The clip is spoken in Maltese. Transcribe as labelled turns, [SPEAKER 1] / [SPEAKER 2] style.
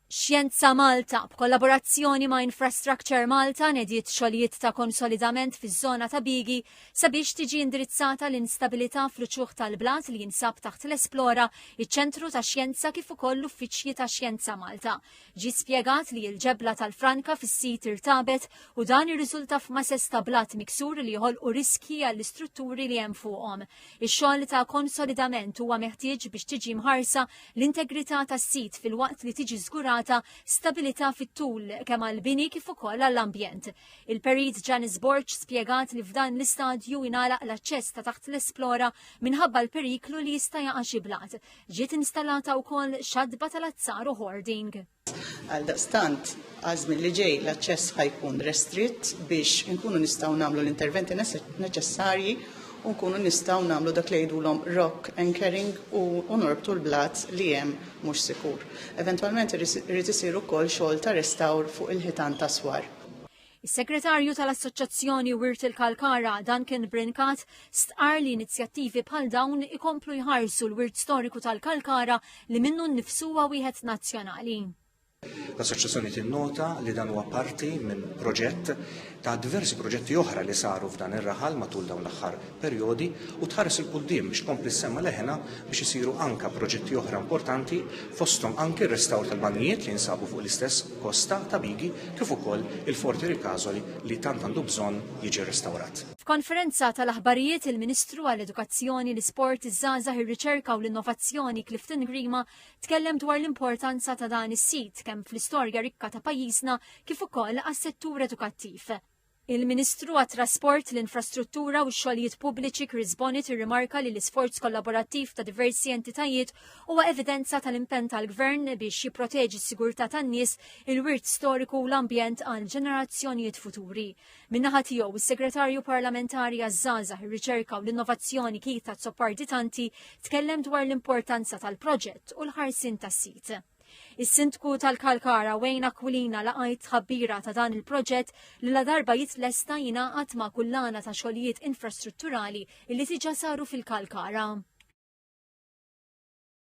[SPEAKER 1] Xjenza Malta, b'kollaborazzjoni ma' Infrastructure Malta, nediet xogħlijiet ta' konsolidament fiż-żona ta' Bigi sabiex tiġi indirizzata l-instabilità fl-uċuħ tal-blat li jinsab taħt l-Esplora, iċ-Ċentru ta' Xjenza kif ukoll l-uffiċċji ta' Xjenza Malta. Ġie spjegat li l-ġebla tal-franka fis-sit irtabet u dan irriżulta f'masess ta' blat miksur li joħolqu riskji għall-istrutturi li hemm fuqhom. Ix-xogħol ta' konsolidament huwa meħtieġ biex tiġi mħarsa l-integrità tas-sit filwaqt li tiġi żgurata stabilità fit-tul kemm għall-bini kif ukoll għall-ambjent. Il-Perit Janice Borg spjegat li f'dan l-istadju ingħalaq l-aċċess ta' taħt l-Esplora minħabba l-periklu li jista' jaqa' xi blat. Ġiet installata wkoll xatba tal-azzar u hoarding. Għaldaqstant,
[SPEAKER 2] għaż-żmien li ġej l-aċċess ħa jkun restritt biex inkunu nistgħu nagħmlu l-interventi neċessarji u nkunu nistgħu nagħmlu dak li jgħidulhom rock anchoring u norbtu l-blat li hemm mhux sikur. Eventwalment irid isir ukoll xogħol ta' restawr fuq il-ħitan ta' Swar. Is-Segretarju
[SPEAKER 1] tal-Assoċjazzjoni Wirt il-Kalkara, Duncan Brincat, stqarr li inizjattivi bħal dawn ikomplu jħarsu l-wirt storiku tal-Kalkara li minnu nnifsu huwa wieħed nazzjonali. L-Assoċjazzjoni
[SPEAKER 3] tinnota li dan huwa parti minn proġett ta' diversi proġetti oħra li saru f'dan ir-raħal matul dawn l-aħħar perjodi u tħares 'il quddiem biex tkompli ssemma' leħinha biex isiru anke proġetti oħra importanti fosthom anke r-restawr tal-banjijiet li jinsabu fuq l-istess kosta ta' Bigi kif ukoll il-Fort Iri Cazoli li tant għandu bżonn jiġi rrestawrat. F'konferenza
[SPEAKER 1] tal-aħbarijiet il-Ministru għall-Edukazzjoni, l-Isport, iż-Żgħażagħ, ir-Riċerka u l-Innovazzjoni Clifton Grima tkellem dwar l-importanza ta' dan is-sit kemm fl-istorja rikka ta' pajjiżna kif ukoll għas-settur edukattiv. Il-Ministru għat-Trasport, l-Infrastruttura u x-Xogħlijiet Pubbliċi Chris Bonnet irrimarka li l-isforz kollaborattiv ta' diversi entitajiet huwa evidenza tal-impenn tal-Gvern biex jipproteġi s-sigurtà tan-nies, il-wirt storiku u l-ambjent għal ġenerazzjonijiet futuri. Min-naħa tiegħu, is-Segretarju Parlamentari għaż-Żgħażagħ, ir-Riċerka u l-Innovazzjoni Keith Azzopardi Tanti tkellem dwar l-importanza tal-proġett u l-ħarsien tas-sit. Is-Sindku tal-Kalkara Wayne Aquilina laqajt tħabbira ta' dan il-proġett li la darba jitlesta jingħaqad ma' kullana ta' xogħlijiet infrastrutturali li diġà saru fil-Kalkara.